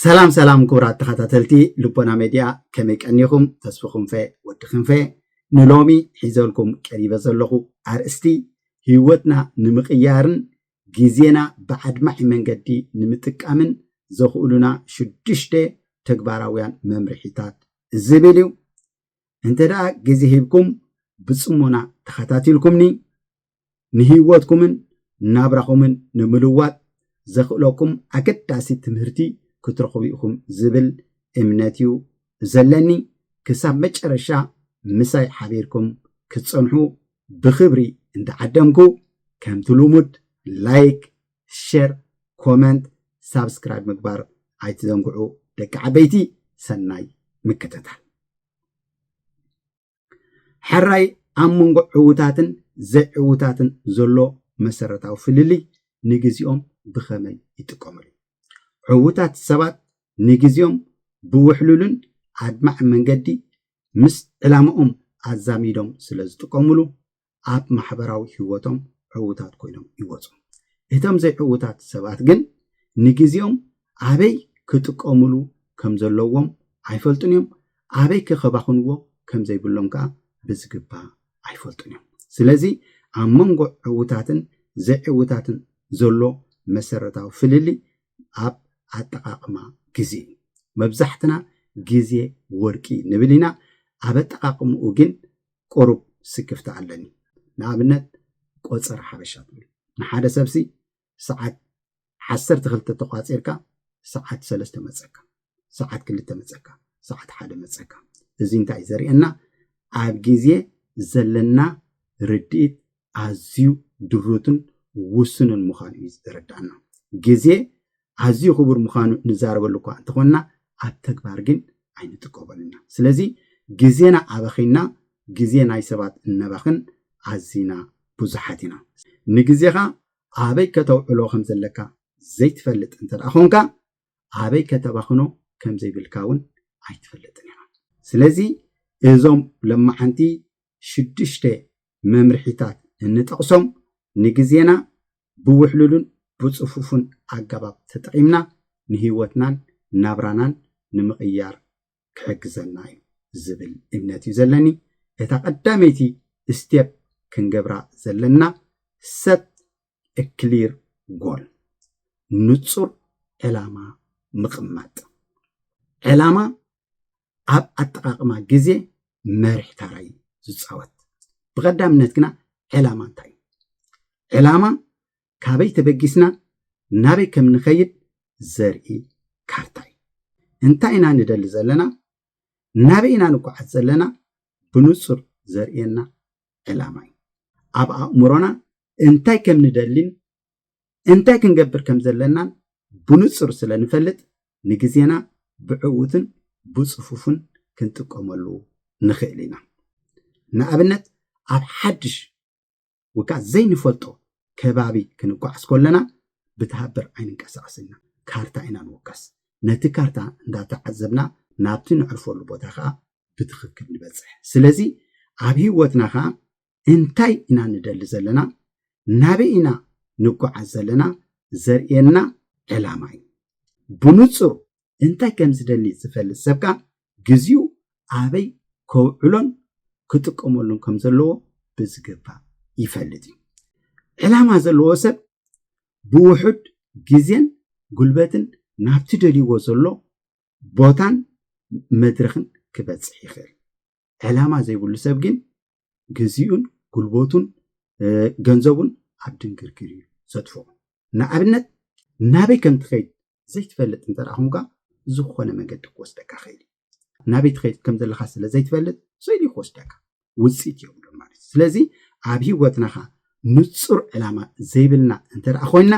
ሰላም ሰላም ክቡራት ተኸታተልቲ ልቦና ሜድያ ከመይ ቀኒኹም ተስፉ ክንፈ ወዲ ክንፈ ንሎሚ ሒዘልኩም ቀሪበ ዘለኹ ኣርእስቲ ህይወትና ንምቕያርን ግዜና ብዓድማዒ መንገዲ ንምጥቃምን ዘኽእሉና ሽዱሽተ ተግባራውያን መምርሒታት ዝብል እዩ እንተ ደኣ ግዜ ሂብኩም ብጽሞና ተኸታቲልኩምኒ፣ ንህይወትኩምን ናብራኹምን ንምልዋጥ ዘኽእለኩም ኣገዳሲ ትምህርቲ ክትረኽቡ ኢኹም ዝብል እምነት እዩ ዘለኒ። ክሳብ መጨረሻ ምሳይ ሓቢርኩም ክትጸንሑ ብኽብሪ እንዳዓደምኩ፣ ከምቲ ልሙድ ላይክ፣ ሸር ኮመንት ሳብስክራይብ ምግባር ኣይትዘንግዑ ደቂ ዓበይቲ ሰናይ ምክትታል ሕራይ ኣብ መንጎ ዕውታትን ዘይዕውታትን ዘሎ መሰረታዊ ፍልልይ ንግዜኦም ብኸመይ ይጥቀምሉ ዕውታት ሰባት ንግዜኦም ብውሕሉልን ኣድማዕ መንገዲ ምስ ዕላማኦም ኣዛሚዶም ስለ ዝጥቀምሉ ኣብ ማሕበራዊ ህይወቶም ዕዉታት ኮይኖም ይወጹ። እቶም ዘይዕዉታት ሰባት ግን ንግዜኦም ኣበይ ክጥቀሙሉ ከም ዘለዎም ኣይፈልጡን እዮም፣ ኣበይከ ከባኽንዎ ከም ዘይብሎም ከኣ ብዝግባእ ኣይፈልጡን እዮም። ስለዚ ኣብ መንጎ ዕዉታትን ዘይዕዉታትን ዘሎ መሰረታዊ ፍልልይ ኣብ ኣጠቓቕማ ግዜ እዩ። መብዛሕትና ግዜ ወርቂ ንብል ኢና፣ ኣብ ኣጠቓቕምኡ ግን ቁሩብ ስክፍታ ኣለኒ። ንኣብነት ቆጸራ ሓበሻ ትብል ንሓደ ሰብሲ ሰዓት ዓሰርተ ክልተ ተቋጺርካ ሰዓት ሰለስተ መጸካ ሰዓት ክልተ መጸካ ሰዓት ሓደ መጸካ እዚ እንታይ እዩ ዘርእየና ኣብ ግዜ ዘለና ርድኢት ኣዝዩ ድሩትን ውሱንን ምዃኑ እዩ ዘረድኣና። ግዜ ኣዝዩ ክቡር ምዃኑ ንዛረበሉ እኳ እንተኾንና ኣብ ተግባር ግን ኣይንጥቀመሉን ኢና። ስለዚ ግዜና ኣባኺና ግዜ ናይ ሰባት እነባኽን ኣዚና ብዙሓት ኢና። ንግዜኻ ኣበይ ከተውዕሎ ከም ዘለካ ዘይትፈልጥ እንተደኣ ኾንካ ኣበይ ከተባኽኖ ከም ዘይብልካ እውን ኣይትፈልጥን ኢኻ። ስለዚ እዞም ለማዓንቲ ሽዱሽተ መምርሒታት እንጠቕሶም ንግዜና ብውሕሉሉን ብጽፉፉን ኣገባብ ተጠቒምና ንህይወትናን ናብራናን ንምቕያር ክሕግዘና እዩ ዝብል እምነት እዩ ዘለኒ። እታ ቀዳመይቲ ስቴፕ ክንገብራ ዘለና set a clear goal ንጹር ዕላማ ምቕማጥ። ዕላማ ኣብ ኣጠቓቕማ ግዜ መሪሕ ታራ እዩ ዝፃወት። ብቐዳምነት ግና ዕላማ እንታይ እዩ? ዕላማ ካበይ ተበጊስና ናበይ ከም ንኸይድ ዘርኢ ካርታ እዩ። እንታይ ኢና ንደሊ ዘለና፣ ናበይ ኢና ንጓዓዝ ዘለና ብንፁር ዘርእየና ዕላማ እዩ። ኣብ ኣእምሮና እንታይ ከም ንደሊን እንታይ ክንገብር ከም ዘለናን ብንጹር ስለ ንፈልጥ ንግዜና ብዕዉትን ብጽፉፍን ክንጥቀመሉ ንኽእል ኢና። ንኣብነት ኣብ ሓድሽ ወይ ከኣ ዘይንፈልጦ ከባቢ ክንጓዓዝ ከለና ብተሃብር ኣይንንቀሳቐስን ኢና፣ ካርታ ኢና ንውከስ። ነቲ ካርታ እንዳተዓዘብና ናብቲ ነዕርፈሉ ቦታ ከኣ ብትኽክል ንበጽሕ። ስለዚ ኣብ ህይወትና ከኣ እንታይ ኢና ንደሊ ዘለና፣ ናበይ ኢና ንጓዓዝ ዘለና ዘርእየና ዕላማ እዩ። ብንጹር እንታይ ከም ዝደሊ ዝፈልጥ ሰብ ከኣ ግዜኡ ኣበይ ከውዕሎን ክጥቀመሉን ከም ዘለዎ ብዝግባእ ይፈልጥ እዩ። ዕላማ ዘለዎ ሰብ ብውሑድ ግዜን ጉልበትን ናብቲ ደልይዎ ዘሎ ቦታን መድረኽን ክበጽሕ ይኽእል። ዕላማ ዘይብሉ ሰብ ግን ግዚኡን ጉልበቱን ገንዘቡን ኣብ ድንግርግር እዩ ዘጥፍኦ ንኣብነት ናበይ ከም ትኸይድ ዘይትፈልጥ እንተ ኮንካ ዝኾነ መገዲ ክወስደካ ክእል እዩ ናበይ ትኸይድ ከም ዘለካ ስለ ዘይትፈልጥ ስእሊ ክወስደካ ውፅኢት እዮም ዶ ማለት እዩ ስለዚ ኣብ ሂወትናኻ ንፁር ዕላማ ዘይብልና እንተ ኮይንና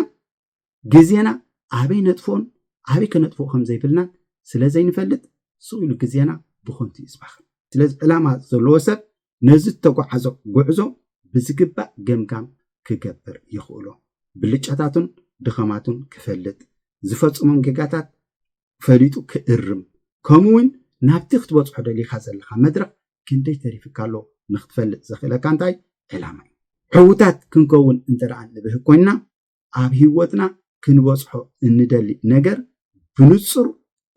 ግዜና ኣበይ ነጥፍኦን ኣበይ ከነጥፍኦ ከም ዘይብልና ስለ ዘይንፈልጥ ስቕ ኢሉ ግዜና ብኸንቱ እዩ ዝባኽን። ስለዚ ዕላማ ዘለዎ ሰብ ነዚ እተጓዓዞ ጉዕዞ ብዝግባእ ገምጋም ክገብር የኽእሎ። ብልጫታቱን ድኸማቱን ክፈልጥ፣ ዝፈጽሞም ጌጋታት ፈሊጡ ክእርም፣ ከምኡ እውን ናብቲ ክትበጽሖ ደሊኻ ዘለኻ መድረኽ ክንደይ ተሪፍካ ኣሎ ንክትፈልጥ ዘኽእለካ እንታይ ዕላማ እዩ። ሕውታት ክንከውን እንተ ደኣ ንብህግ ኮይንና፣ ኣብ ህይወትና ክንበጽሖ እንደሊ ነገር ብንጹር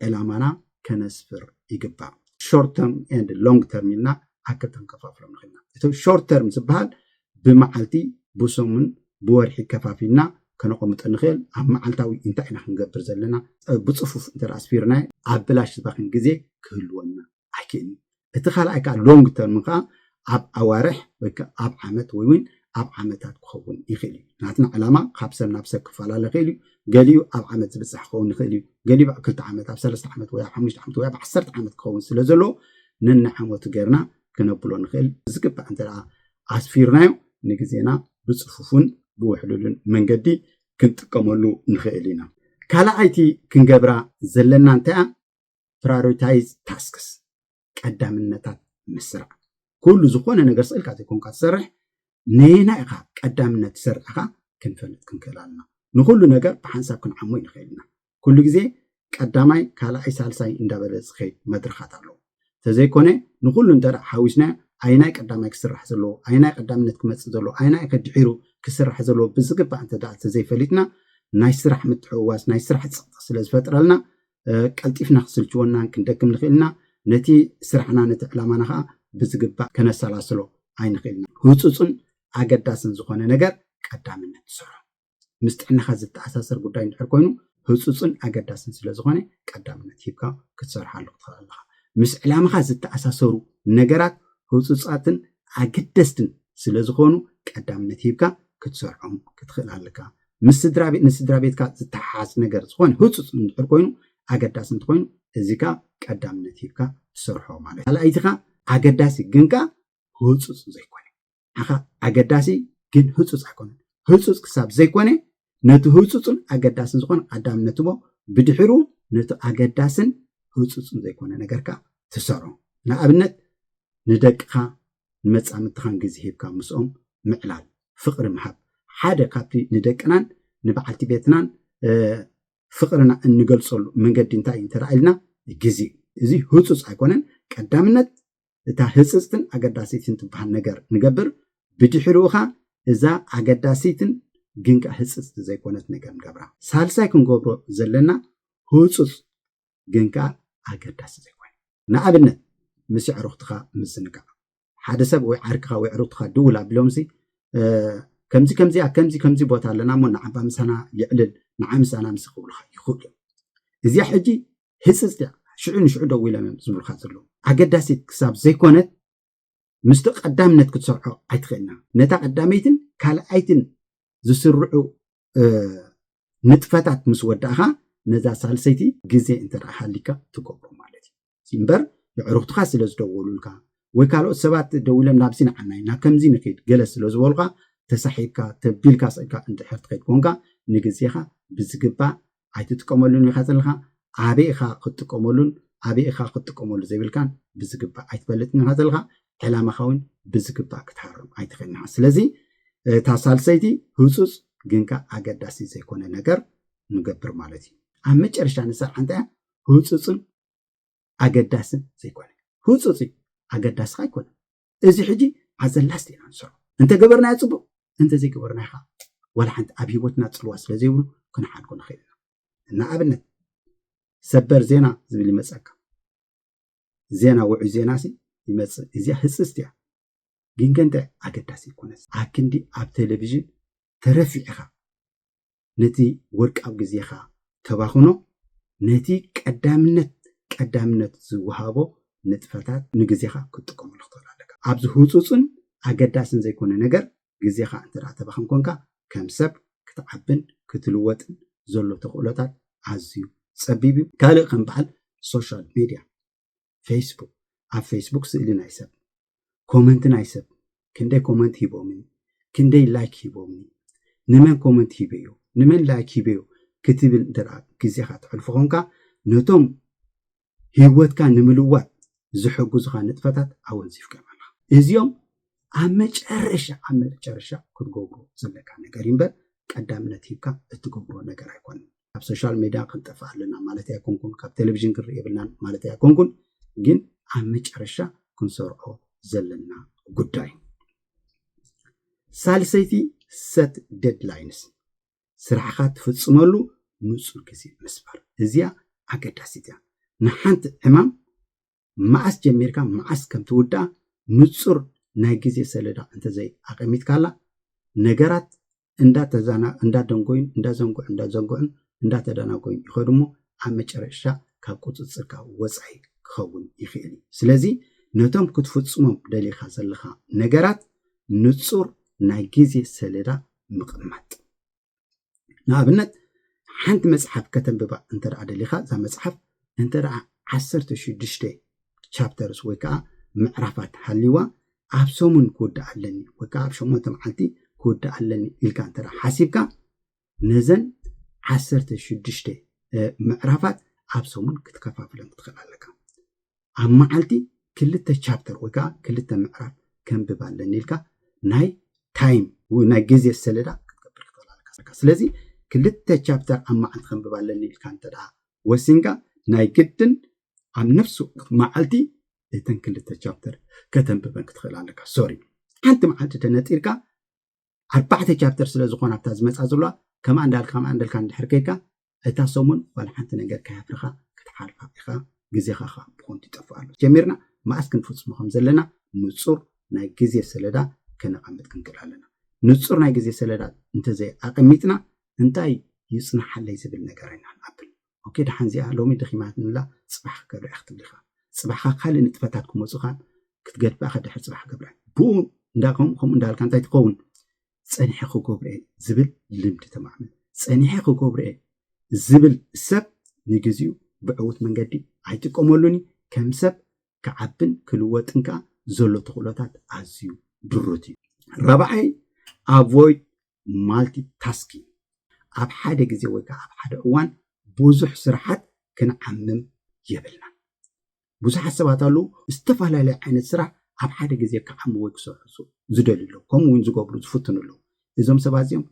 ዕላማና ከነስፍር ይግባእ። ሾርት ተርም ኤንድ ሎንግ ተርም ኢልና ኣብ ክልተ ክንከፋፍሎም ንኽእል ኢና። እቲ ሾርት ተርም ዝበሃል ብመዓልቲ፣ ብሰሙን፣ ብወርሒ ከፋፊልና ከነቐምጦ ንኽእል። ኣብ መዓልታዊ እንታይ ኢና ክንገብር ዘለና ብጽፉፍ እንተ ኣስፊርናዮ ኣብ ብላሽ ዝባኽን ግዜ ክህልወና ኣይክእልን እዩ። እቲ ካልኣይ ከዓ ሎንግ ተርም ከዓ ኣብ ኣዋርሕ ወይ ከዓ ኣብ ዓመት ወይ እውን ኣብ ዓመታት ክኸውን ይኽእል እዩ። ናትና ዕላማ ካብ ሰብ ናብ ሰብ ክፈላለ ይኽእል እዩ። ገሊኡ ኣብ ዓመት ዝብፃሕ ክኸውን ይኽእል እዩ። ገሊኡ ኣብ ክልተ ዓመት፣ ኣብ ሰለስተ ዓመት ወይ ኣብ ሓሙሽተ ዓመት ወይ ኣብ ዓሰርተ ዓመት ክኸውን ስለ ዘለዎ ነናይ ዓመቱ ገይርና ክነብሎ ንኽእል። ብዝግባእ እንተ ኣስፊርናዮ ንግዜና ብፅፉፉን ብውሕሉሉን መንገዲ ክንጥቀመሉ ንኽእል ኢና። ካልኣይቲ ክንገብራ ዘለና እንታይ እያ? ፕራሪታይዝ ታስክስ ቀዳምነታት ምስራዕ ኩሉ ዝኾነ ነገር ስእልካ ዘይኮንካ ትሰርሕ ነየናይ ኢኻ ቀዳምነት ትሰርሕ ኢኻ ክንፈልጥ ክንክእል ኣለና ንኹሉ ነገር ብሓንሳብ ክንዓሞ ይንኽእል ኢና ኩሉ ግዜ ቀዳማይ ካልኣይ ሳልሳይ እንዳበለ ዝኸይድ መድረኻት ኣለዎ ተዘይኮነ ንኹሉ እንተ ሓዊስናዮ ኣየናይ ቀዳማይ ክስራሕ ዘለዎ ኣየናይ ቀዳምነት ክመፅእ ዘለዎ ኣየናይ ከድሒሩ ክስራሕ ዘለዎ ብዝግባእ እንተ ተዘይፈሊጥና ናይ ስራሕ ምትሕውዋስ ናይ ስራሕ ፅቕጢ ስለ ዝፈጥረልና ቀልጢፍና ክስልችወናን ክንደክም ንኽእል ኢና፣ ነቲ ስራሕና ነቲ ዕላማና ኸኣ ብዝግባእ ከነሰላስሎ ኣይንኽእልን። ህጹጽን ኣገዳስን ዝኾነ ነገር ቀዳምነት ትሰርሖ። ምስ ጥዕናኻ ዝተኣሳሰር ጉዳይ እንድሕር ኮይኑ ህጹጽን ኣገዳስን ስለ ዝኾነ ቀዳምነት ሂብካ ክትሰርሓሉ ክትኽእል ኣለኻ። ምስ ዕላማኻ ዝተኣሳሰሩ ነገራት ህጹጻትን ኣገደስትን ስለ ዝኾኑ ቀዳምነት ሂብካ ክትሰርዖም ክትኽእል ኣለካ ምስ ስድራቤት ንስድራቤትካ ዝተሓሓዝ ነገር ዝኾነ ህጹጽ እንድሕር ኮይኑ ኣገዳሲ እንተኾይኑ እዚ ከኣ ቀዳምነት ሂብካ ትሰርሖ ማለት ካልኣይቲ ከኣ ኣገዳሲ ግን ከኣ ህጹጽ ዘይኮነ ኣኻ ኣገዳሲ ግን ህጹጽ ኣይኮነን ህጹጽ ክሳብ ዘይኮነ ነቲ ህጹጽን ኣገዳስን ዝኾነ ቀዳምነት ህቦ ብድሕሩ ነቲ ኣገዳስን ህጹጽን ዘይኮነ ነገር ከኣ ትሰርሖ ንኣብነት ንደቅኻ ንመጻምድትኻን ግዜ ሂብካ ምስኦም ምዕላል፣ ፍቕሪ ምሃብ፣ ሓደ ካብቲ ንደቅናን ንበዓልቲ ቤትናን ፍቕርና እንገልጸሉ መንገዲ እንታይ እዩ እንተ ኢልና ግዜ እዚ ህጹጽ ኣይኮነን ቀዳምነት እታ ህጽጽትን ኣገዳሲትን ትበሃል ነገር ንገብር ብድሕሪኡ ኸኣ እዛ ኣገዳሲትን ግን ከኣ ህጽጽቲ ዘይኮነት ነገር ንገብራ ሳልሳይ ክንገብሮ ዘለና ህጹጽ ግን ከኣ ኣገዳሲ ዘይኮነ። ንኣብነት ምስ የዕሩኽትኻ ምዝንጋዕ። ሓደ ሰብ ወይ ዓርክኻ ወይ ኣዕሩኽትኻ ድውል ኣቢሎምሲ ከምዚ ከምዚ ኣብ ከምዚ ከምዚ ቦታ ኣለና እሞ ንዓባ ምሳና የዕልል ንዓ ምሳና ምስ ክብሉኻ ይኽእሉ እዮም። እዚኣ ሕጂ ህጽጽቲ እያ ሽዑ ንሽዑ ደዊሎም እዮም ዝብሉኻ ዘለዉ ኣገዳሲት ክሳብ ዘይኮነት ምስቲ ቀዳምነት ክትሰርሖ ኣይትኽእልና ነታ ቀዳመይትን ካልኣይትን ዝስርዑ ንጥፈታት ምስ ወዳእኻ ነዛ ሳልሰይቲ ግዜ እንተ ሃሊካ ትገብሮ ማለት እዩ እምበር የዕሩኽትኻ ስለ ዝደወሉልካ ወይ ካልኦት ሰባት ደዊሎም ናብዚ ንዓና ኢና ከምዚ ንኽድ ገለ ስለ ዝበሉኻ ተሳሒብካ ተቢልካ ስእልካ እንድሕር ትኸይድ ኮንካ ንግዜኻ ብዝግባእ ኣይትጥቀመሉን ኢኻ ዘለኻ ኣበይ ኢኻ ክትጥቀመሉን ኣበይ ኢኻ ክትጥቀመሉ ዘይብልካን ብዝግባእ ኣይትፈልጥን ኢኻ ዘለኻ ዕላማኻ እውን ብዝግባእ ክትሃርም ኣይትኽእልን ኢኻ ስለዚ እታ ሳልሰይቲ ህፁፅ ግን ከዓ ኣገዳሲ ዘይኮነ ነገር ንገብር ማለት እዩ ኣብ መጨረሻ ንሰርዓ እንታይ እያ ህፁፅን ኣገዳስን ዘይኮነ ህፁፅ እዩ ኣገዳስኻ ኣይኮነን እዚ ሕጂ ኣዘላስት ኢና ንሰርሖ እንተ ገበርናዮ ጽቡቅ እንተ ዘይገበርናዮ ከኣ ወላ ሓንቲ ኣብ ሂወትና ጽልዋ ስለ ዘይብሉ ክንሓድጎ ንኽእል ኢና እና ኣብነት ሰበር ዜና ዝብል ይመጸካ ዜና ውዑይ ዜና ሲ ይመጽእ እዚኣ ህጽጽቲ እያ ግን ከንተ ኣገዳሲ ይኮነስ ኣክንዲ ኣብ ቴሌቪዥን ተረፊዕኻ ነቲ ወርቃዊ ግዜኻ ተባኽኖ ነቲ ቀዳምነት ቀዳምነት ዝወሃቦ ንጥፈታት ንግዜኻ ክትጥቀመሉ ክትኽእል ኣለካ። ኣብዚ ህጹጽን ኣገዳስን ዘይኮነ ነገር ግዜኻ እንተ ተባኽን ኮንካ ከም ሰብ ክትዓብን ክትልወጥን ዘሎ ተኽእሎታት ኣዝዩ ጸቢብ እዩ። ካልእ ከም በዓል ሶሻል ሜድያ ፌስቡክ ኣብ ፌስቡክ ስእሊ ናይ ሰብ ኮመንት ናይ ሰብ ክንደይ ኮመንት ሂቦምኒ ክንደይ ላይክ ሂቦምኒ ንመን ኮመንት ሂበዮ ንመን ላይክ ሂበዮ ክትብል እንተ ግዜኻ ተሕልፎ ኾንካ ነቶም ህይወትካ ንምልዋጥ ዝሕግዙኻ ንጥፈታት ኣወንዚፍካዮም ኣለኻ እዚኦም ኣብ መጨረሻ ኣብ መጨረሻ ክትገብሮ ዘለካ ነገር እምበር ቀዳምነት ሂብካ እትገብሮ ነገር ኣይኮነን ካብ ሶሻል ሜድያ ክንጠፍእ ኣለና ማለተይ ኣይኮንኩን፣ ካብ ቴሌቪዥን ክንርኢ የብልናን ማለተይ ኣይኮንኩን፣ ግን ኣብ መጨረሻ ክንሰርዖ ዘለና ጉዳይ። ሳልሰይቲ ሰት ዴድላይንስ ስራሕኻ ትፍፅመሉ ንፁር ግዜ ምስባር እዚኣ ኣገዳሲት እያ። ንሓንቲ ዕማም መዓስ ጀሚርካ መዓስ ከም ትውድኣ ንጹር ናይ ግዜ ሰሌዳ እንተዘይ ኣቐሚጥካላ፣ ነገራት እንዳደንጎዩን እንዳዘንግዑን እንዳዘንግዑን እንዳተደናጎዩን ይኸዱ እሞ ኣብ መጨረሻ ካብ ቁጽጽርካ ወጻኢ ክኸውን ይኽእል እዩ። ስለዚ ነቶም ክትፍጽሞም ደሊኻ ዘለኻ ነገራት ንጹር ናይ ግዜ ሰሌዳ ምቕማጥ። ንኣብነት ሓንቲ መጽሓፍ ከተንብባ እንተ ደሊኻ እዛ መጽሓፍ እንተ ደኣ ዓሰርተ ሽዱሽተ ቻፕተርስ ወይ ከዓ ምዕራፋት ሃልዋ ኣብ ሰሙን ክውድእ ኣለኒ ወይ ከዓ ኣብ ሸሞንተ መዓልቲ ክውድእ ኣለኒ ኢልካ እንተ ሓሲብካ ነዘን ዓሰርተ ሽዱሽተ ምዕራፋት ኣብ ሰሙን ክትከፋፍለን ትኽእል ኣለካ ኣብ መዓልቲ ክልተ ቻፕተር ወይ ከዓ ክልተ ምዕራፍ ከንብብ ኣለኒ ኢልካ ናይ ታይም ወይ ናይ ግዜ ሰሌዳ ክትገብር ክትኽእል ኣለካ። ስለዚ ክልተ ቻፕተር ኣብ መዓልቲ ከንብብ ኣለኒ ኢልካ እንተ ደኣ ወሲንካ ናይ ግድን ኣብ ነፍሲ ወከፍ መዓልቲ እተን ክልተ ቻፕተር ከተንብበን ክትኽእል ኣለካ። ሶሪ ሓንቲ መዓልቲ ተነጢርካ ኣርባዕተ ቻፕተር ስለ ዝኾና ኣብታ ዝመጻ ዘለዋ ከምኣ እንዳልካ ከምኣ እንዳልካ እንድሕር ከይካ እታ ሰሙን ዋላ ሓንቲ ነገር ከያፍርኻ ክትሓልፋ ኢኻ ግዜኻ ኸዓ ብኾንቱ ይጠፍእ ኣሎ ጀሚርና መኣስ ክንፍጽሞ ከም ዘለና ንጹር ናይ ግዜ ሰለዳ ከነቐምጥ ክንክእል ኣለና ንጹር ናይ ግዜ ሰለዳ እንተዘይ ኣቐሚጥና እንታይ ይጽናሓለይ ዝብል ነገር ኢና ንኣብል ኦኬ ደሓን እዚኣ ሎሚ ደኺማትኒላ ጽባሕ ክገብራ'የ ክትብል ኢኻ። ጽባሕካ ካልእ ንጥፈታት ክመጹኻን ክትገድፋ'ኻ ድሕሪ ጽባሕ ክገብራ'የ። ብኡ እንዳ ከምኡ ከምኡ እንዳበልካ እንታይ ትኸውን ጸኒሐ ክገብሮ'የ ዝብል ልምዲ ተማዕብል። ጸኒሐ ክገብሮ'የ ዝብል ሰብ ንግዚኡ ብዕዉት መንገዲ ኣይጥቀመሉን'ዩ። ከም ሰብ ክዓብን ክልወጥን ከኣ ዘሎ ተኽእሎታት ኣዝዩ ድሩት'ዩ። ራብዓይ፣ ኣቮይድ ማልቲ ታስኪንግ፣ ኣብ ሓደ ግዜ ወይ ከኣ ኣብ ሓደ እዋን ብዙሕ ስራሓት ክንዓምም የብልናን። ብዙሓት ሰባት ኣለዉ፣ ዝተፈላለየ ዓይነት ስራሕ ኣብ ሓደ ግዜ ክዓሙ ወይ ክሰርሑ ዝደልዩ ኣለዉ፣ ከምኡ እውን ዝገብሩ ዝፍትኑ ኣለዉ። እዞም ሰባት እዚኦም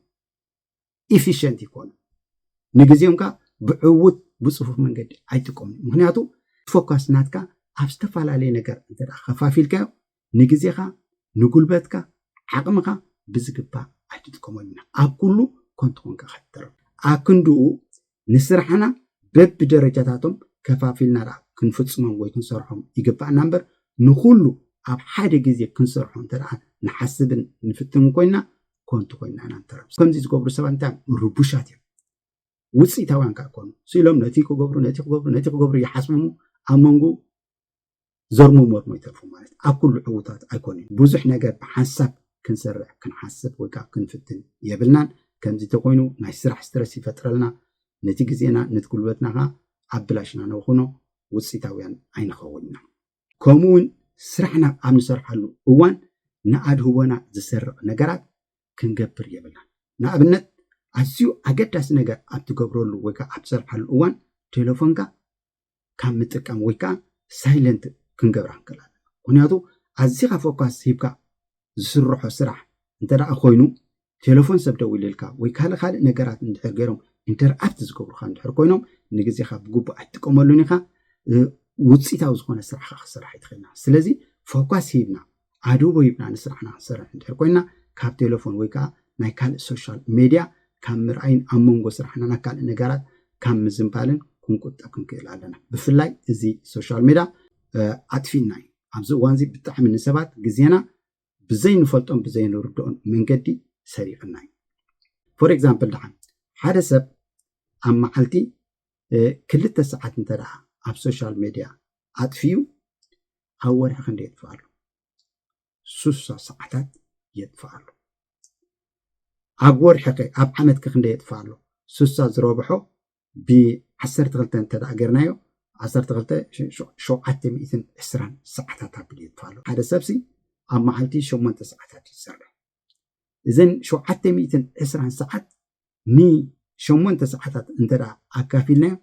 ኢፊሸንት ይኮኑ፣ ንግዜኦም ከኣ ብዕውት ብጽፉፍ መንገዲ ኣይጥቀሙን። ምክንያቱ ፎካስ ናትካ ኣብ ዝተፈላለየ ነገር እንተ ከፋፊልካዮ ንግዜኻ ንጉልበትካ ዓቕምኻ ብዝግባእ ኣይትጥቀመሉን ኢኻ ኣብ ኩሉ ኮንቱ ኮንካ ኢኻ ትተርፍ ኣክንድኡ ንስራሕና በቢ ደረጃታቶም ከፋፊልና ደኣ ክንፍጽሞም ወይ ክንሰርሖም ይግባእና እምበር ንኹሉ ኣብ ሓደ ግዜ ክንሰርሖ እንተ ደኣ ንሓስብን ንፍትን ኮይና ኮንቱ ኮይና ኢና ንተርፍ ከምዚ ዝገብሩ ሰባት እንታይ ርቡሻት እዮም ውፅኢታውያን ከዓ ኮኑ ስኢሎም ነቲ ክገብሩ ነቲ ክገብሩ ነቲ ክገብሩ ይሓስቡ እሞ ኣብ መንጎ ዘርሙ መርሙ ይተርፉ ማለት ኣብ ኩሉ ዕውታት ኣይኮንን። ብዙሕ ነገር ብሓንሳብ ክንሰርሕ ክንሓስብ ወይ ከዓ ክንፍትን የብልናን። ከምዚ ተኮይኑ ናይ ስራሕ ስትረስ ይፈጥረልና፣ ነቲ ግዜና ነት ጉልበትና ከዓ ኣብ ብላሽ ኢና ነብኹኖ፣ ውፅኢታውያን ኣይንኸውን ኢና። ከምኡ እውን ስራሕና ኣብ ንሰርሓሉ እዋን ንኣድህቦና ዝሰርቕ ነገራት ክንገብር የብልናን። ንኣብነት ኣዝዩ ኣገዳሲ ነገር ኣብ ትገብረሉ ወይ ከዓ ኣብ ትሰርሓሉ እዋን ቴለፎንካ ካብ ምጥቃም ወይ ከዓ ሳይለንት ክንገብራ ክንክእል ኣለና ምክንያቱ ኣዚኻ ፎካስ ሂብካ ዝስርሖ ስራሕ እንተደኣ ኮይኑ ቴሌፎን ሰብ ደዊልልካ ወይ ካልእ ካልእ ነገራት እንድሕር ገይሮም ኢንተርኣፕት ዝገብሩካ እንድሕር ኮይኖም ንግዜኻ ብግቡእ ኣይትጥቀመሉን ኢኻ ውፅኢታዊ ዝኾነ ስራሕካ ክስራሕ ኣይትኽእልና ስለዚ ፎካስ ሂብና ዓዱ ወይብና ንስራሕና ክንሰርሕ እንድሕር ኮይና ካብ ቴለፎን ወይ ከዓ ናይ ካልእ ሶሻል ሜድያ ካብ ምርኣይን ኣብ መንጎ ስራሕና ናብ ካልእ ነገራት ካብ ምዝንባልን ክንቁጠብ ክንክእል ኣለና። ብፍላይ እዚ ሶሻል ሜድያ ኣጥፊእና እዩ። ኣብዚ እዋን እዚ ብጣዕሚ ንሰባት ግዜና ብዘይንፈልጦን ብዘይንርድኦን መንገዲ ሰሪቕና እዩ። ፎር ኤግዛምፕል ደሓን ሓደ ሰብ ኣብ መዓልቲ ክልተ ሰዓት እንተ ኣብ ሶሻል ሜድያ ኣጥፍዩ ኣብ ወርሒ ክንደ የጥፍእ ኣሎ ሱሳ ሰዓታት የጥፍእ ኣሎ ኣብ ወርሒ ከ ኣብ ዓመት ከ ክንደ የጥፍእ ኣሎ ሱሳ ዝረብሖ ብዓሰርተ ክልተ እንተ ገርናዮ ዓሰርተ ክልተ ሸውዓተ ሚእትን ዕስራን ሰዓታት ኣብሉ የጥፍእ ኣሎ ሓደ ሰብሲ ኣብ መዓልቲ ሸሞንተ ሰዓታት እዩ ዝሰርሕ እዘን ሸውዓተ ሚእትን ዕስራን ሰዓት ንሸሞንተ ሰዓታት እንተ ኣካፊልናዮ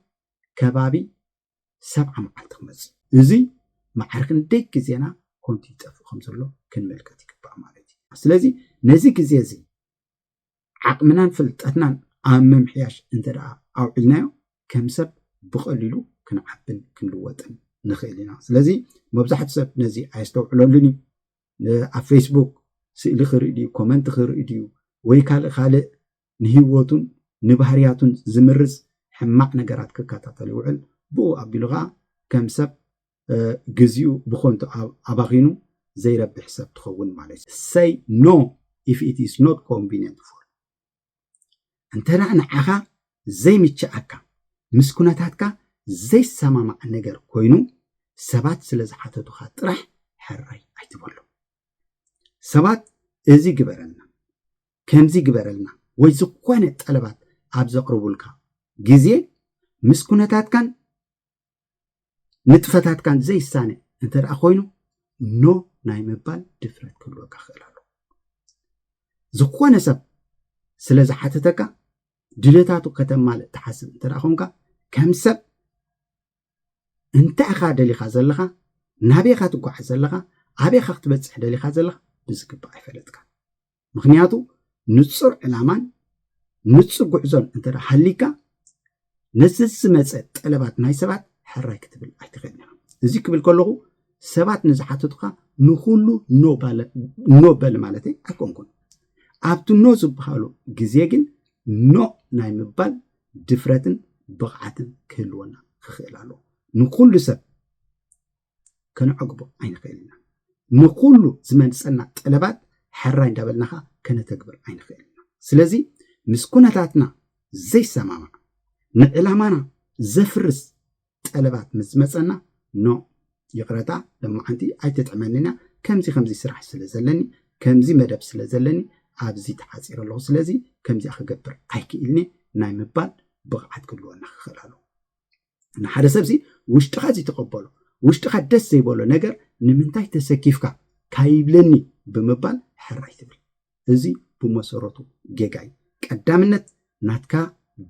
ከባቢ ሰብዓ መዓልቲ ክመጽእ እዚ መዓር ክንደይ ግዜና ኮንቱ ይጠፍእ ከም ዘሎ ክንምልከት ይግባእ ማለት እዩ። ስለዚ ነዚ ግዜ እዚ ዓቕምናን ፍልጠትናን ኣብ ምምሕያሽ እንተደኣ ኣውዒልናዮ ከም ሰብ ብቐሊሉ ክንዓብን ክንልወጥን ንኽእል ኢና። ስለዚ መብዛሕትኡ ሰብ ነዚ ኣየስተውዕለሉን እዩ። ኣብ ፌስቡክ ስእሊ ክርኢ ድዩ፣ ኮመንት ክርኢ ድዩ ወይ ካልእ ካልእ ንህይወቱን ንባህርያቱን ዝምርዝ ሕማቕ ነገራት ክከታተል ይውዕል። ብኡ ኣቢሉ ኸኣ ከም ሰብ ግዚኡ ብኾንቱ ኣባኺኑ ዘይረብሕ ሰብ ትኸውን ማለት እዩ። Say no if it is not convenient for እንተ ንዓኻ ዘይምችኣካ ምስ ኩነታትካ ዘይሰማማዕ ነገር ኮይኑ ሰባት ስለ ዝሓተቱኻ ጥራሕ ሕራይ ኣይትበሎም። ሰባት እዚ ግበረልና ከምዚ ግበረልና ወይ ዝኾነ ጠለባት ኣብ ዘቕርቡልካ ግዜ ምስ ኩነታትካን ንጥፈታትካን ዘይሳነ እንተ ደኣ ኮይኑ ኖ ናይ ምባል ድፍረት ክህልወካ ክእል ኣሎ ዝኾነ ሰብ ስለ ዝሓተተካ ድልታቱ ከተማልእ ትሓስብ እንተ ደኣ ኮንካ ከም ሰብ እንታይ ኢኻ ደሊኻ ዘለኻ ናበይኻ ትጓዓዝ ዘለኻ ኣበይኻ ክትበፅሕ ደሊኻ ዘለኻ ብዝግባእ ኣይፈለጥካ ምክንያቱ ንጹር ዕላማን ንጹር ጉዕዞን እንተ ሃሊካ ነዚ ዝመፀ ጠለባት ናይ ሰባት ሕራይ ክትብል ኣይትኽእልን ኢኻ እዚ ክብል ከለኹ ሰባት ንዝሓተቱካ ንኩሉ ኖ በል ማለት ኣይኮንኩን ኣብቲ ኖ ዝበሃሉ ግዜ ግን ኖ ናይ ምባል ድፍረትን ብቕዓትን ክህልወና ክኽእል ኣለዎ ንኩሉ ሰብ ከነዕግቦ ኣይንኽእል ኢና። ንኹሉ ዝመንጸና ጠለባት ሕራይ እንዳበልናኻ ከነተግብር ኣይንኽእል ኢና። ስለዚ ምስ ኩነታትና ዘይሰማማዕ ንዕላማና ዘፍርስ ጠለባት ምስ ዝመጸና ኖ ይቕረታ ለማዓንቲ ኣይተጥዕመንን እያ ከምዚ ከምዚ ስራሕ ስለ ዘለኒ ከምዚ መደብ ስለ ዘለኒ ኣብዚ ተሓፂረ ኣለኹ ስለዚ ከምዚኣ ክገብር ኣይክእልኒ ናይ ምባል ብቕዓት ክህልወና ክኽእል ኣለዎ ንሓደ ሰብሲ ውሽጥኻ ዘይተቐበሎ ውሽጥኻ ደስ ዘይበሎ ነገር ንምንታይ ተሰኪፍካ ካይብለኒ ብምባል ሕራይ ትብል እዚ ብመሰረቱ ጌጋ እዩ ቀዳምነት ናትካ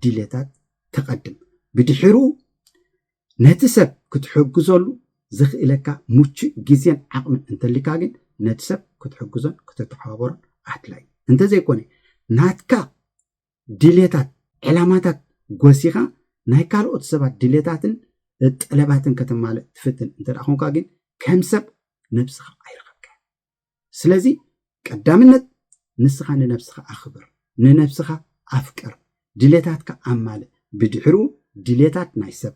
ድሌታት ተቐድም ብድሕሩ ነቲ ሰብ ክትሕግዘሉ ዘኽእለካ ምቹእ ግዜን ዓቕምን እንተሊካ ግን ነቲ ሰብ ክትሕግዞን ክተተሓባበሮን ኣድላይ እንተዘይኮነ ናትካ ድሌታት፣ ዕላማታት ጎሲኻ ናይ ካልኦት ሰባት ድሌታትን ጠለባትን ከተማልእ ትፍትን እንተ ኮንካ ግን ከም ሰብ ነብስኻ ኣይረኸብካን። ስለዚ ቀዳምነት ንስኻ ንነብስኻ ኣኽብር፣ ንነብስኻ ኣፍቅር፣ ድሌታትካ ኣማልእ፣ ብድሕሩ ድሌታት ናይ ሰብ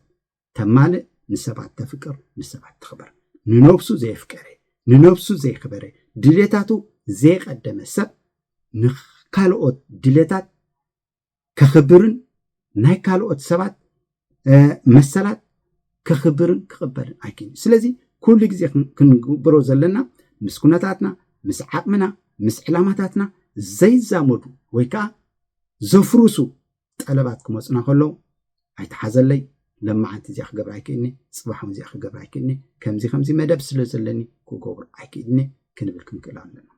ተማልእ ንሰባት ተፍቅር ንሰባት ተኽብር ንነብሱ ዘየፍቀረ ንነብሱ ዘይክበረ ድሌታቱ ዘየቀደመ ሰብ ንካልኦት ድሌታት ከኽብርን ናይ ካልኦት ሰባት መሰላት ከኽብርን ክቕበልን ኣይክን ስለዚ ኩሉ ግዜ ክንግብሮ ዘለና ምስ ኩነታትና ምስ ዓቕምና ምስ ዕላማታትና ዘይዛመዱ ወይ ከዓ ዘፍርሱ ጠለባት ክመጹና ከለዉ ኣይትሓዘለይ ለማዓንቲ እዚኣ ክገብር ኣይክእልኒ ፅባሕ እውን እዚኣ ክገብር ኣይክእልኒ ከምዚ ከምዚ መደብ ስለ ዘለኒ ክገብሩ ኣይክእልኒ ክንብል ክንክእል ኣለና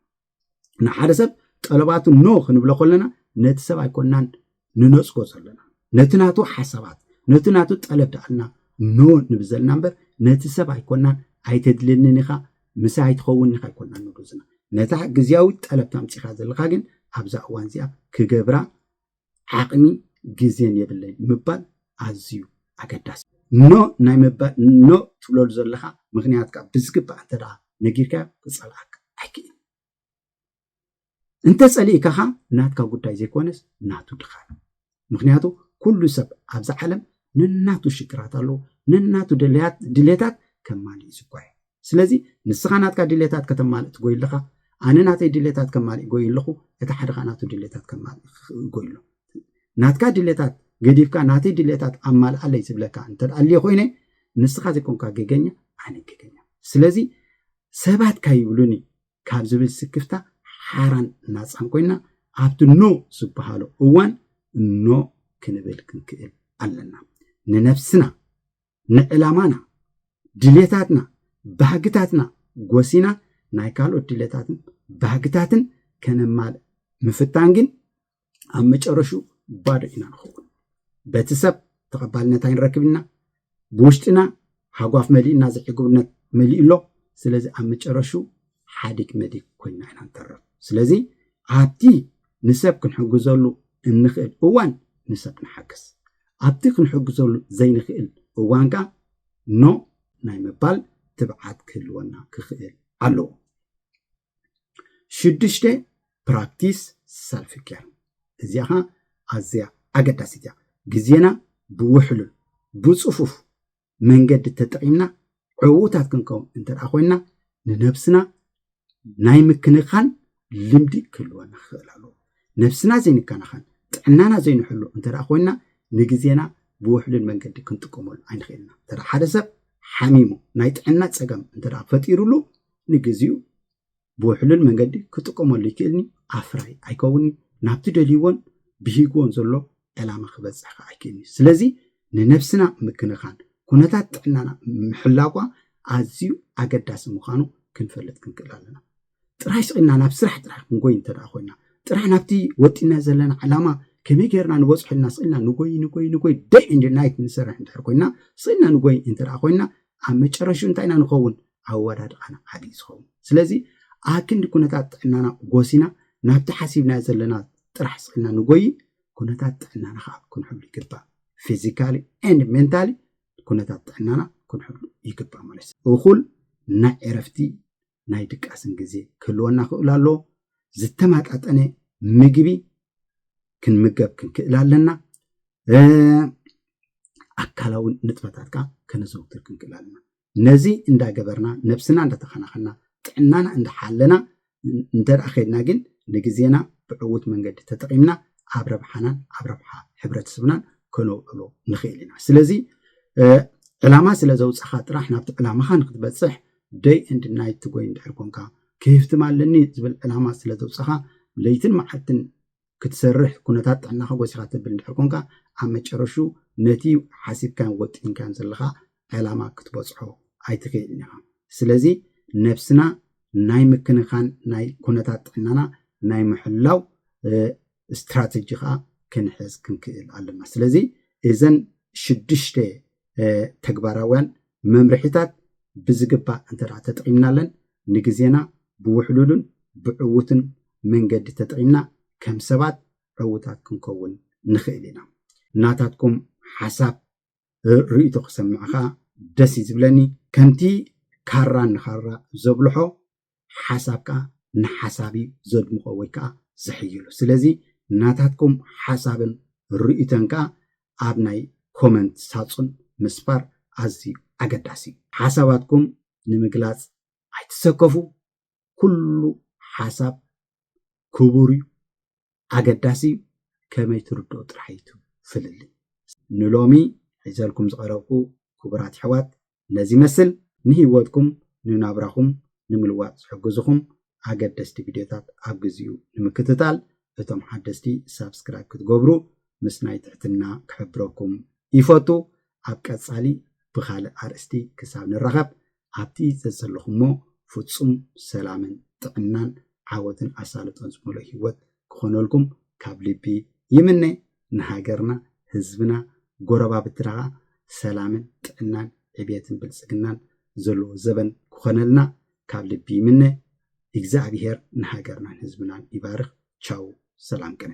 ንሓደ ሰብ ጠለባቱ ኖ ክንብሎ ከለና ነቲ ሰብ ኣይኮናን ንነፅጎ ዘለና ነቲ ናቱ ሓሳባት ነቲ ናቱ ጠለብ ደኣልና ኖ ንብል ዘለና እምበር ነቲ ሰብ ኣይኮናን ኣይተድልየንን ኢኻ ምሳ ኣይትኸውን ኢኻ ኣይኮናን ንብሉ ዘለና ነታ ግዜያዊት ጠለብ ታምፂኻ ዘለካ ግን ኣብዛ እዋን እዚኣ ክገብራ ዓቕሚ ግዜን የብለይን ምባል ኣዝዩ ኣገዳሲ እዩ። ኖእ ናይ ምባል ኖእ ትብለሉ ዘለኻ ምኽንያት ከኣ ብዝግባእ እንተደኣ ነጊርካዮ ክጸልኣካ ኣይክእልን እዩ። እንተ ጸሊእካ ከኣ ናትካ ጉዳይ ዘይኮነስ ናቱ ድኻም እዩ። ምኽንያቱ ኩሉ ሰብ ኣብዛ ዓለም ነናቱ ሽግራት ኣለዎ፣ ነናቱ ድልያት ድሌታት ከማልእ እዩ ዝጓየ። ስለዚ ንስኻ ናትካ ድሌታት ከተማልእ ትጎይ ኣለኻ ኣነ ናተይ ድሌታት ከማልእ ጎይ ኣለኹ እቲ ሓደ ከዓ ናቱ ድሌታት ከማልእ ጎይ ኣሎ ናትካ ድሌታት ገዲፍካ ናተይ ድሌታት ኣማልኣለይ ዝብለካ እንተደኣልየ ኮይነ ንስኻ ዘይኮንካ ገገኛ ኣነ ገገኛ ስለዚ ሰባት ካይብሉኒ ካብ ዝብል ስክፍታ ሓራን ናፃን ኮይና ኣብቲ ኖ ዝበሃሉ እዋን ኖ ክንብል ክንክእል ኣለና ንነፍስና ንዕላማና፣ ድሌታትና፣ ባህግታትና ጎሲና ናይ ካልኦት ድሌታትን ባህግታትን ከነማልእ ምፍታን ግን ኣብ መጨረሽኡ ባዶ ኢና ንኸውን። በቲ ሰብ ተቐባልነት ኣይንረክብ ኢና። ብውሽጥና ሃጓፍ መሊእና ዝዕግብነት መሊኡ ኣሎ። ስለዚ ኣብ መጨረሹ ሓዲግ መዲግ ኮይና ኢና ንተርፍ። ስለዚ ኣብቲ ንሰብ ክንሕግዘሉ እንኽእል እዋን ንሰብ ንሓግዝ። ኣብቲ ክንሕግዘሉ ዘይንኽእል እዋን ከኣ ኖእ ናይ ምባል ትብዓት ክህልወና ክኽእል ኣለዎ። ሽዱሽተ፣ ፕራክቲስ ሰልፍ ኬር፣ እዚኣ ከኣ ኣዝያ ኣገዳሲት እያ። ግዜና ብውሕሉል፣ ብጽፉፍ፣ መንገዲ ተጠቒምና ዕዉታት ክንከውን እንተ ኮይና ንነብስና ናይ ምክንኻን ልምዲ ክህልወና ክኽእል ኣለዎ ነብስና ዘይንከናኸን ጥዕናና ዘይንሕሉ እንተ ኮይና ንግዜና ብውሕሉል መንገዲ ክንጥቀመሉ ኣይንኽእልና እንተ ሓደ ሰብ ሓሚሙ ናይ ጥዕና ፀገም እንተ ፈጢሩሉ ንግዚኡ ብውሕሉል መንገዲ ክጥቀመሉ ይክእልኒ ኣፍራይ ኣይከውንኒ ናብቲ ደልይዎን ብሂግዎን ዘሎ ዕላማ ክበፅሕ ከዓ ኣይክእልኒ ስለዚ ንነብስና ምክንኻን ኩነታት ጥዕናና ምሕላጓ ኣዝዩ ኣገዳሲ ምዃኑ ክንፈልጥ ክንክእል ኣለና ጥራይ ስቂልና ናብ ስራሕ ጥራሕ ክንጎይ እንተ ኮይና ጥራሕ ናብቲ ወጢና ዘለና ዓላማ ከመይ ጌርና ንበፅሖ ኢልና ስቂልና ንጎይ ንጎይ ንጎይ ደይ እንድ ናይት ንሰርሕ እንድሕር ኮይና ስቂልና ንጎይ እንተ ኮይና ኣብ መጨረሽኡ እንታይ ኢና ንኸውን? ኣወዳድቓና ዓቢ እዩ ዝኸውን። ስለዚ ኣክንዲ ኩነታት ጥዕናና ጎሲና ናብቲ ሓሲብናዮ ዘለና ጥራሕ ስዒልና ንጎይይ፣ ኩነታት ጥዕናና ከዓ ክንሕሉ ይግባእ። ፊዚካሊ ኤንድ ሜንታሊ ኩነታት ጥዕናና ክንሕሉ ይግባእ ማለት እዩ። እኹል ናይ ዕረፍቲ ናይ ድቃስን ግዜ ክህልወና ክእሉ ኣለዎ። ዝተማጣጠነ ምግቢ ክንምገብ ክንክእል ኣለና። ኣካላዊ ንጥፈታት ከዓ ከነዘውትር ክንክእል ኣለና። ነዚ እንዳገበርና ነብስና እንዳተኸናኸና ጥዕናና እንዳሓለና እንተ ከድና ግን ንግዜና ብዕውት መንገዲ ተጠቒምና ኣብ ረብሓናን ኣብ ረብሓ ሕብረተሰብናን ከነውዕሎ ንኽእል ኢና። ስለዚ ዕላማ ስለ ዘውፃኻ ጥራሕ ናብቲ ዕላማኻ ንክትበፅሕ ደይ ኤንድ ናይት ትጎይ እንድሕር ኮንካ፣ ክህፍትም ኣለኒ ዝብል ዕላማ ስለ ዘውጸኻ ለይትን መዓልትን ክትሰርሕ ኩነታት ጥዕናኻ ጎሲኻ ተብል እንድሕር ኮንካ፣ ኣብ መጨረሹ ነቲ ሓሲብካዮን ወጢንካዮን ዘለኻ ዕላማ ክትበጽሖ ኣይትክእልን ኢኻ። ስለዚ ነብስና ናይ ምክንኻን ናይ ኩነታት ጥዕናና ናይ ምሕላው ስትራተጂ ከዓ ክንሕዝ ክንክእል ኣለና ስለዚ እዘን ሽዱሽተ ተግባራውያን መምርሒታት ብዝግባእ እንተ ተጠቒምናለን ንግዜና ብውሕሉሉን ብዕውትን መንገዲ ተጠቒምና ከም ሰባት ዕውታት ክንከውን ንኽእል ኢና ናታትኩም ሓሳብ ርእቶ ክሰምዕ ከዓ ደስ እዩ ዝብለኒ ከምቲ ካራ ንኻራ ዘብልሖ ሓሳብካ ንሓሳብ እዩ ዘድምቆ ወይ ከኣ ዝሕይሎ ስለዚ ናታትኩም ሓሳብን ርእይቶን ከኣ ኣብ ናይ ኮመንት ሳጹን ምስፋር ኣዝዩ ኣገዳሲ እዩ ሓሳባትኩም ንምግላጽ ኣይትሰከፉ ኩሉ ሓሳብ ክቡር እዩ ኣገዳሲ ከመይ ትርድኦ ጥራሕ እዩ እቲ ፍልልይ። ንሎሚ ሒዘልኩም ዝቐረብኩ ክቡራት የሕዋት ነዚ ይመስል። ንህይወትኩም ንናብራኹም ንምልዋጥ ዝሕግዙኹም ኣገደስቲ ቪድዮታት ኣብ ግዚኡ ንምክትታል እቶም ሓደስቲ ሳብስክራይብ ክትገብሩ ምስናይ ትሕትና ክሕብረኩም ይፈቱ። ኣብ ቀጻሊ ብኻልእ ኣርእስቲ ክሳብ ንራኸብ ኣብቲ ዘዘለኹሞ ፍጹም ሰላምን ጥዕናን ዓወትን ኣሳልጦን ዝመልኦ ሂወት ክኾነልኩም ካብ ልቢ ይምነ ንሃገርና ህዝብና ጎረባብትና ከኣ ሰላምን ጥዕናን ዕብየትን ብልጽግናን ዘለዎ ዘበን ክኾነልና ካብ ልቢ ይምነ ኢግዝኣብሄር ንሃገርናን ህዝብናን ይባርኽ ቻው ሰላም ቅነ።